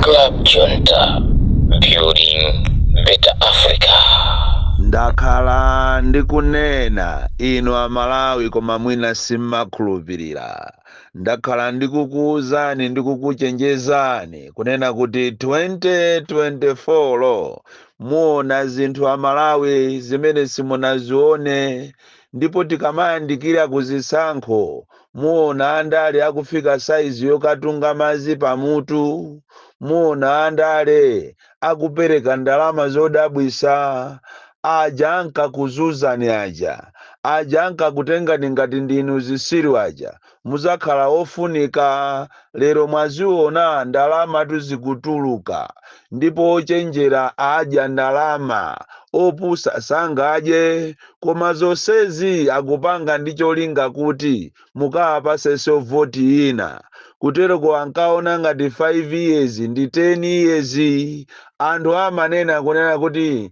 Club Junta, building better Africa. Ndakhala ndikunena inu a Malawi koma mwina simmakhulupilira. Ndakhala ndikukuuzani ndi kukuchenjezani kunena kuti 2024 muona zinthu a Malawi zimene simunazione ndipo tikamayandikira ku zisankho muona andale akufika saizi yokatunga madzi pamutu, muona andale akupereka ndalama zodabwitsa, aja ankakuzunzani aja, aja ankakutengani ngati ndinu zitsiru aja, mudzakhala ofunika lero mwaziona ndalamatu zikutuluka ndipo ochenjera adya ndalama opusa sangadye koma zonsezi akupanga ndi cholinga kuti mukawapasenso voti ina kuteroko ankaona ngati 5 years ndi 10 years anthu amanena kunena kuti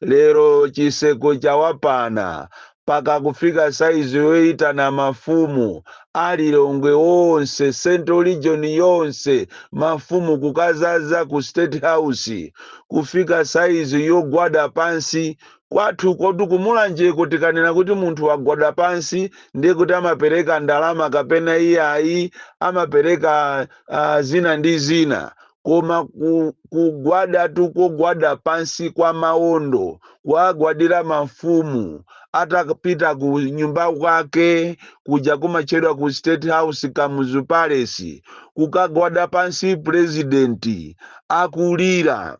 Lero chiseko chawapana paka kufika saizi yoitana mafumu a Lilongwe onse central region yonse mafumu kukazaza ku state house kufika saizi yogwada pansi kwathukotu ku Mulanjeko tikanena kuti munthu wagwada pansi ndiye kuti amapereka ndalama kapena iyayi amapereka ah, zina ndi zina koma ku- kugwadatu kogwada pansi kwa maondo kuwagwadira mafumu atapita ku nyumba kwake kuja kumatchedwa ku state house kamuzu palace kukagwada pansi purezidenti akulira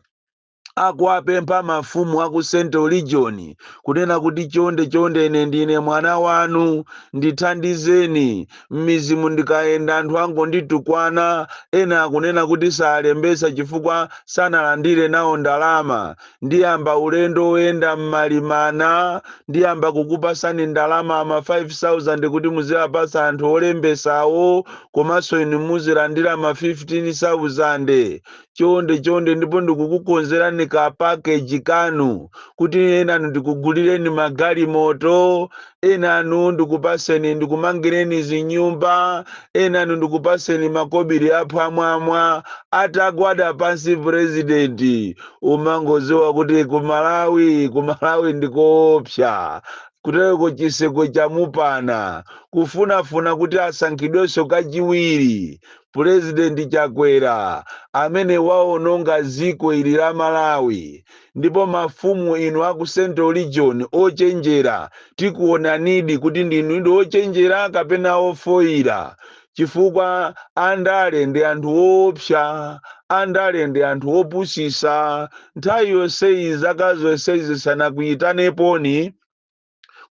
akuwapempha mafumu a ku central region kunena kuti chonde chonde ine ndine mwana wanu ndithandizeni m'mizimu ndikayenda anthu angonditukwana ena akunena kuti salembetsa chifukwa sanalandire nawo ndalama ndiyamba ulendo woyenda m'malimana ndiyamba kukupasani ndalama ama 5000 kuti muziwapatsa anthu olembetsawo komanso inu muzilandira ma 15000 chonde chonde ndipo ndikukukonzerani ka package kanu kuti enanu ndikugulireni magalimoto enanu ndikupaseni ndikumangireni zinyumba enanu ndikupaseni makobiri aphwamwamwa atagwada pansi purezidenti umangoziwa kuti kumalawi kumalawi ndikoopsa kutereko chiseko chamupana kufunafuna kuti asankhidwenso kachiwiri Pulezidenti Chakwera amene waononga dziko ili la Malawi ndipo mafumu inu aku Central Region ochenjera tikuonanidi kuti ndinudi ochenjera kapena ofoira chifukwa andale ndi anthu oopsa, andale ndi anthu opusisa, nthawi yonseyi zaka zonse izi sanakuitaneponi?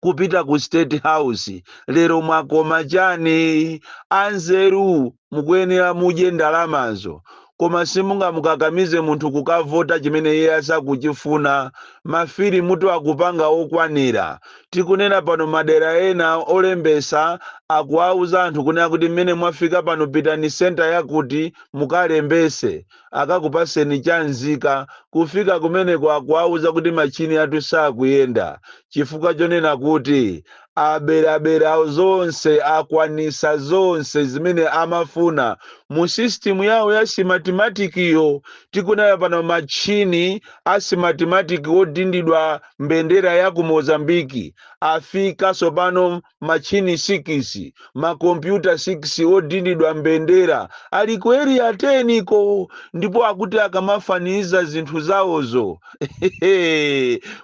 kupita ku state house lero mwakoma chani anzeru mukuyenera mudye ndalamazo koma simungamukakamize munthu kukavota chimene iye asakuchifuna mavoti kuti akupanga okwanira tikunena pano madera ena olembesa akuwauza anthu kunena kuti mmene mwafika pano pitani senta yakuti mukalembese akakupaseni cha nzika kufika kumeneko akuwauza kuti matchini athu sakuyenda chifukwa chonena kuti aberabera zonse akwanisa zonse zimene amafuna mu system yawo ya simatimatikiyo tikunena pano matchini a simatimatiki odindidwa mbendera ya ku mozambiki afika sopano matchini sikisi, makompyuta sikisi odindidwa mbendera ali ku eriya teni ko ndipo akuti akamafaniza zinthu zawozo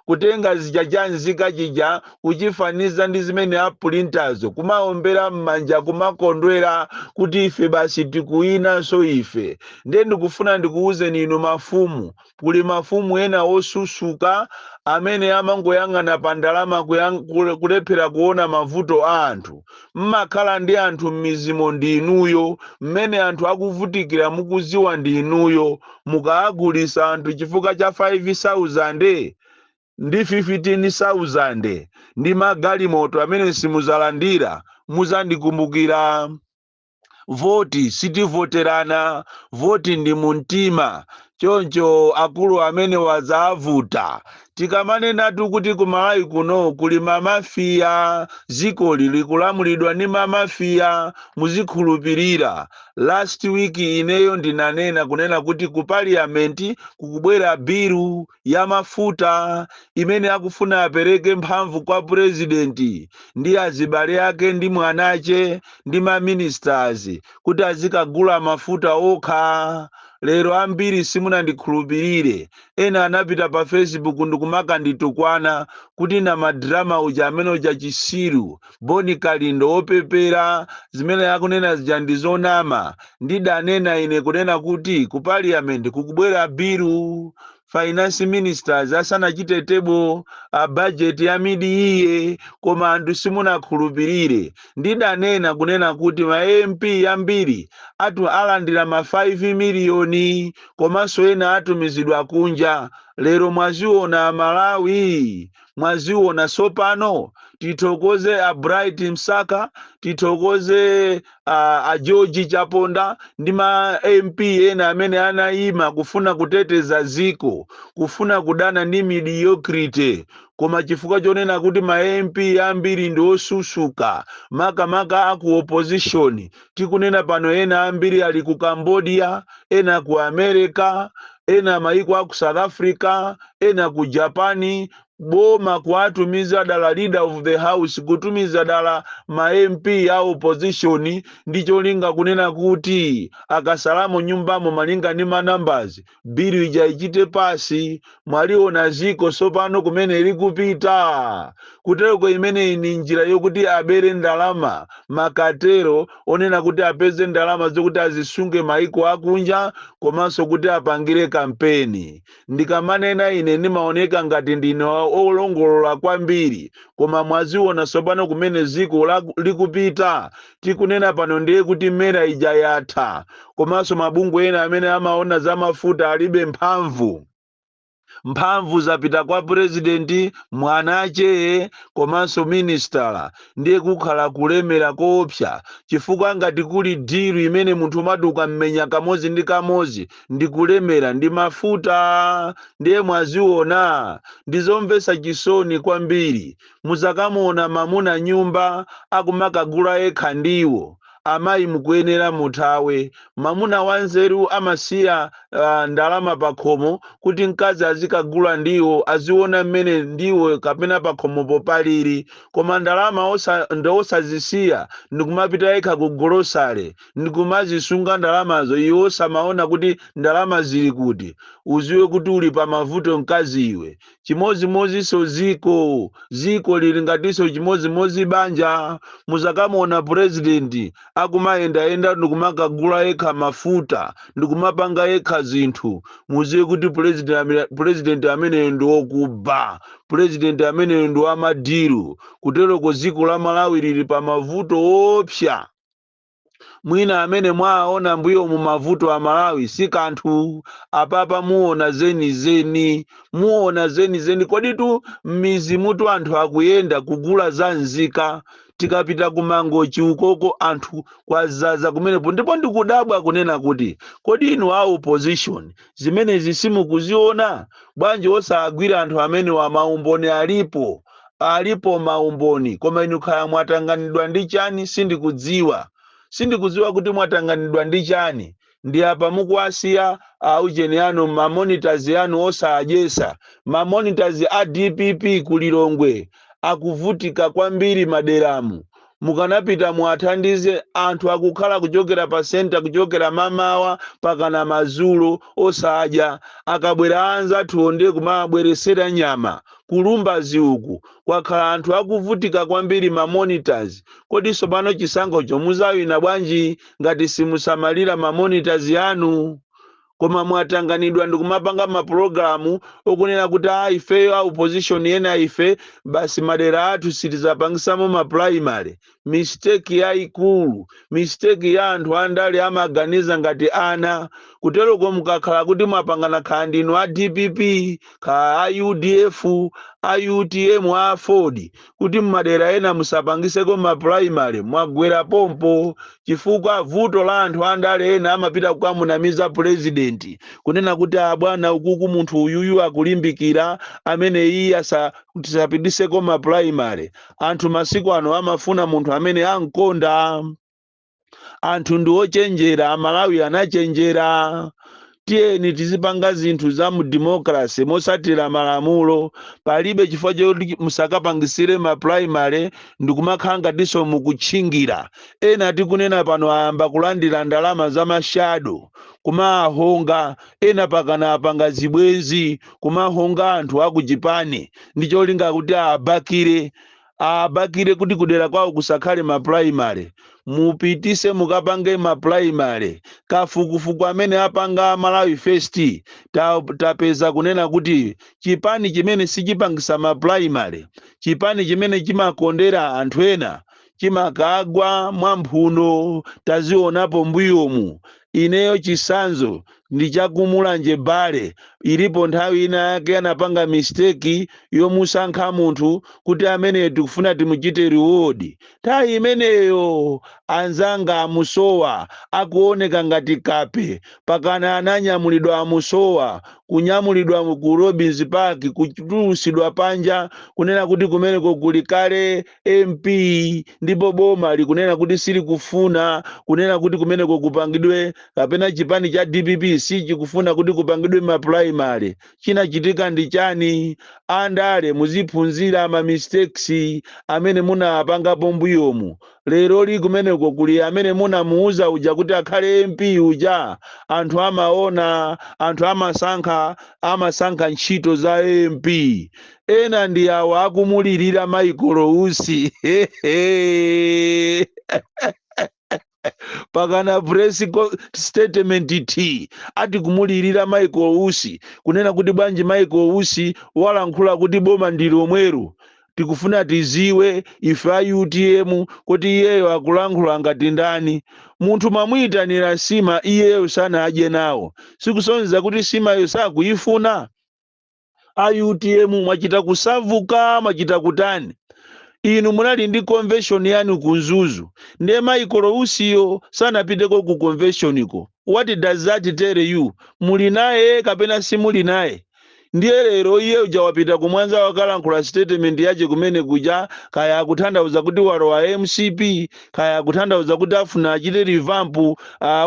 kutenga chija cha nzika chija kuchifaniza ndi zimene apulintazo kumaombera m'manja kumakondwera kuti ife basi tikuwinanso ife ndiye ndikufuna ndikuwuzeni inu mafumu Kuli mafumu ena osusuka amene amangoyang'ana pa ndalama kulephera kuona mavuto a anthu. Mmakhala ndi anthu mmidzimo ndi inuyo, mmene anthu akuvutikira mukuziwa ndi inuyo. Mukaagulisa anthu chifukwa cha 5 sauzande ndi 15 sauzande ndi ma galimoto amene simuzalandira, muzandikumbukira. voti sitivoterana voti ndi mumtima choncho akuluakulu mmene kwadzavuta tikamanenatu kuti ku malawi kuno kuli mamafiya zikoli likulamulidwa ndi mamafiya muzikhulupirira last week ineyo ndinanena kunena kuti ku parliament kukubwera bilu ya mafuta imene akufuna apereke mphamvu kwa purezidenti ndi azibale ake ndi mwanache ndi ma ministers kuti azikagula mafuta okha lero ambiri simunandikhulupirire ena anapita pa facebook ndikumakanditukwana kuti namadrama uja amene uja chisiru Boni Kalindo wopepera zimene akunena zija ndi zonama ndidanena ine kunena kuti ku parliament kukubwera bilu finance ministers asanachite table a budget ya mid-year koma anthu simunakhulupirire ndidanena kunena kuti ma mp ambiri alandira ma 5 miliyoni komanso ena atumizidwa kunja lero mwaziona amalawi mwaziona sopano tithokoze a bright msaka tithokoze a george chaponda ndi ma mp ena amene anayima kufuna kuteteza ziko kufuna kudana ndi mediocrity koma chifukwa chonena kuti ma mp ambiri ndi osusuka makamaka aku opposition Tikunena pano ena ambiri ali ku Cambodia, ena ku America, ena maiko a ku South Africa, ena ku Japan, boma kuwatumiza dala leader of the house kutumiza dala ma MP a opposition ndi cholinga kunena kuti akasalamo nyumbamo malinga ndi ma numbers bilu ija ichite pass mwaliona ziko sopano kumene likupita kutereko imeneyi ni njira yokuti abere ndalama makatero onena kuti apeze ndalama zokuti azisunge maiko akunja komanso kuti apangire kampeni ndikamanena ine nimaoneka ngati ndine olongolola kwambiri koma mwaziona sopano kumene ziko likupita tikunena pano ndiye kuti mera ija yatha komanso mabungwe ena amene amaona za mafuta alibe mphamvu mphamvu zapita kwa purezidenti mwanache komanso minisitala ndiye kukhala kulemera koopsa chifukwa ngati kuli dilu imene munthu umati ukammenya kamozi ndi kamozi ndi kulemera ndi mafuta ndiye mwaziona ndizomvesa chisoni kwambiri muzakamuona mamuna nyumba akumakagula yekha ndiwo amayi mukuyenera muthawe mamuna wanzeru amasiya ndalama pakhomo kuti mkazi azikagula ndiwo aziona mmene ndiwo kapena pakhomopo palili koma ndalama osazisiya ndikumapita yekha ku golosale ndikumazisunga ndalamazo iwe osamaona kuti ndalama zili kuti uziwe kuti uli pa mavuto mkazi iwe chimodzimodzinso ziko ziko lili ngatinso chimodzimodzi banja muzakamuona president akumayendayenda ndikumakagula yekha mafuta ndikumapanga yekha zinthu muziwe kuti president ameneyo ndi wokuba president ameneyo ndi wamadiru kutereko dziko la malawi lili pa mavuto oopsa mwina amene mwaona mbuyomu mavuto a malawi si kanthu apapa muona zenizeni muona zenizeni koditu m'mizimutu anthu akuyenda kugula za nzika tikapita ku mangochi ukoko anthu kwazaza kumenepo ndipo ndikudabwa kunena kuti kodi inu a opposition zimenezi simukuziona? Bwanji osagwira anthu amenewa maumboni alipo alipo maumboni koma inu kaya mwatanganidwa ndi chani sindikudziwa sindikudziwa kuti mwatanganidwa ndi chani ndi apa mukuwasiya aujeni anu ma monitors anu osadyesa ma monitors a dpp ku lilongwe akuvutika kwambiri maderamu mukanapita muwathandize anthu akukhala kuchokera pa center kuchokera mamawa pakana madzulo osadya akabwera anzathuwo ndiye kumawabweresera nyama ku lumbazi uku kwakhala anthu akuvutika kwambiri ma monitors kodi sopano chisankhocho muzawina bwanji ngati simusamalira ma monitors yanu koma mwatanganidwa ndikumapanga mapulogalamu okunena kuti a ah, ifeyo a opposition ena ife basi madera athu sitizapangisamo ma primary mistake yayikulu mistake ya anthu andale amaganiza ngati ana kuteroko mukakhala kuti mwapangana kaya ndinu a dpp kaya a udf a utm a aford kuti mmadera ena musapangiseko ma primary mwagwera pompo chifukwa vuto la anthu andale ena amapita kukamunamiza president kunena kuti abwana ukuku munthu uyuyu akulimbikira amene iye tisapitiseko ma primary anthu masiku ano amafuna munthu amene ankonda anthu ndi ochenjera amalawi anachenjera tiyeni tizipanga zinthu za mu democracy mosatira malamulo palibe chifukwa choti musakapangisire ma primary ndikumakhala ngatinso mukutchingira ena tikunena pano ayamba kulandira ndalama za mashado kumahonga ena pakana apanga zibwenzi kumahonga anthu akuchipani ndi cholinga kuti abakire abakire kuti kudera kwawo kusakhale ma primary mupitise mukapange ma primary kafukufuku amene apanga malawi first tapeza kunena kuti chipani chimene sichipangisa ma primary chipani chimene chimakondera anthu ena chimakagwa mwa mphuno tazionapo mbuyomu ineyo chisanzo ndi cha ku mulanje bale ilipo nthawi ina yake anapanga mistake yomusankha munthu kuti ameneyu tikufuna timuchite reward nthawi imeneyo anzanga amusowa akuoneka ngati kape pakana ananyamulidwa amusowa kunyamulidwa ku robins park kutulusidwa panja kunena kuti kumeneko kuli kale mp ndipo boma likunena kuti silikufuna kunena kuti kumeneko kupangidwe kapena chipani cha dpp sichikufuna kuti kupangidwe mapulaimale chinachitika ndi chani andale muziphunzira ma mistakes amene munawapangapo mbuyomu lero li kumeneko kuli amene munamuuza uja kuti akhale mp uja anthu amaona anthu amasankha amasankha ntchito za mp ena ndi awa akumulirira michael usi pakana press statement ati kumulirira michael usi kunena kuti bwanji michael usi walankhula kuti boma ndi lomweru tikufuna tiziwe ife a utm kuti iyeyo akulankhula ngati ndani munthu mwamuyitanira sima iyeyo sanadye nawo sikusonyeza kuti simayo sakuyifuna a utm mwachita kusavuka mwachita kutani inu munali ndi convention yanu ku mzuzu ndiye michael usiyo sanapiteko ku conventioniko what does that tell you muli naye kapena simuli naye ndiye lero iye uja wapita kumwanza wakalankhula statement yache kumene kuja kaya akutanthauza kuti walowa mcp kaya akutanthauza kuti afuna achite revamp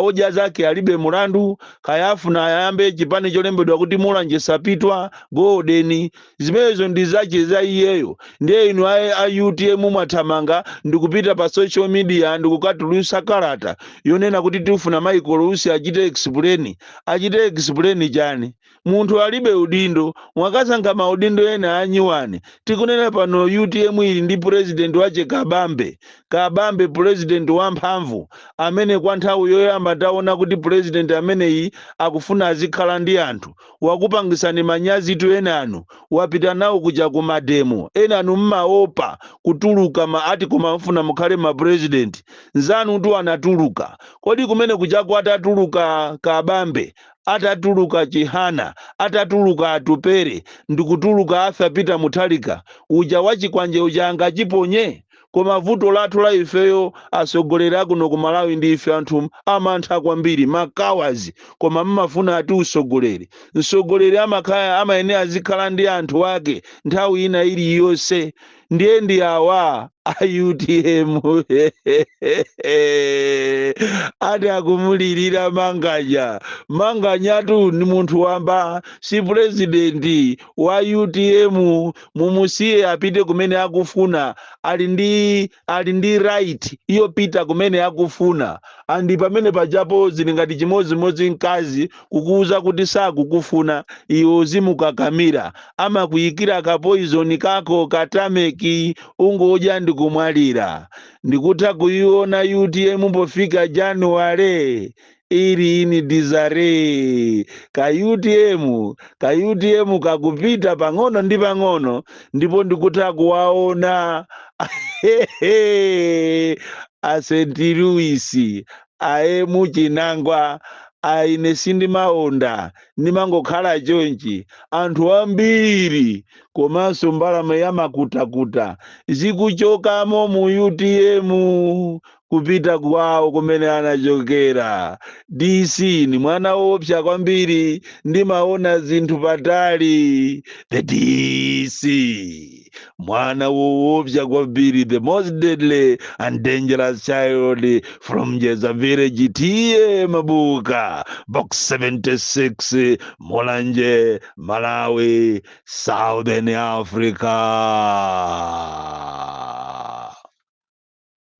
odya zake alibe mlandu kaya afuna ayambe chipani cholembedwa kuti mulanje sapitwa golden zimenezo ndi zache za iyeyo ndiye inu a utm mwathamanga ndikupita pa social media ndikukatulusa kalata yonena kuti tifuna michael usi achite explain achite explain chani Munthu alibe udindo, mwakasankha maudindo ena a nyuwani. Tikunena pano utm ili ndi president wache Kabambe, Kabambe president wa mphamvu amene kwa nthawi yoyamba taona kuti president ameneyi akufuna azikhala ndi anthu. Wakupangisani manyazitu enanu, wapita nao kuja ku mademo, enanu mmaopa kutuluka ati koma mmafuna mukhale ma president. Nzanutu anatuluka. Kodi kumene kujaku atatuluka Kabambe atatuluka Chihana, atatuluka Atupele, ndikutuluka Arthur Peter Mutharika, uja wachikwanje uja angachiponye? Koma vuto lathu la ifeyo atsogoleri akuno ku Malawi ndife anthu amantha kwambiri, ma cowards, koma mmafuna ati utsogoleri? Mtsogoleri amakhala, amayenera azikhala ndi anthu ake nthawi ina iliyonse. ndiye ndi awa a utm ati akumulirira manganya manganyatu ndi munthu wamba si purezidenti wa utm mumusiye apite kumene akufuna ali ndi ali ndi right yopita kumene akufuna andi pamene pajapo zili ngati chimodzimodzi mkazi kukuuza kuti sakukufuna, iwe uzimukakamira. Amakuyikira kapoizoni kako ka tameki, ungodya ndikumwalira. Ndikutha kuyiona utm pofika January. Ili in disarray. Ka utm, ka utm kakupita pang'ono ndi pang'ono ndipo ndikutha kuwaona a St. Louis aye muchinangwa ayi ine sindimaonda ndimangokhala chonchi anthu ambiri komanso mbalame zamakutakuta zikuchokamo mu utm kupita kwawo kumene anachokera dc ni mwana woopsa kwambiri ndimaona zinthu patali the dc mwana woopsa kwambiri the most deadly and dangerous child from jeza village tiye mabuka box 76 mulanje malawi southern africa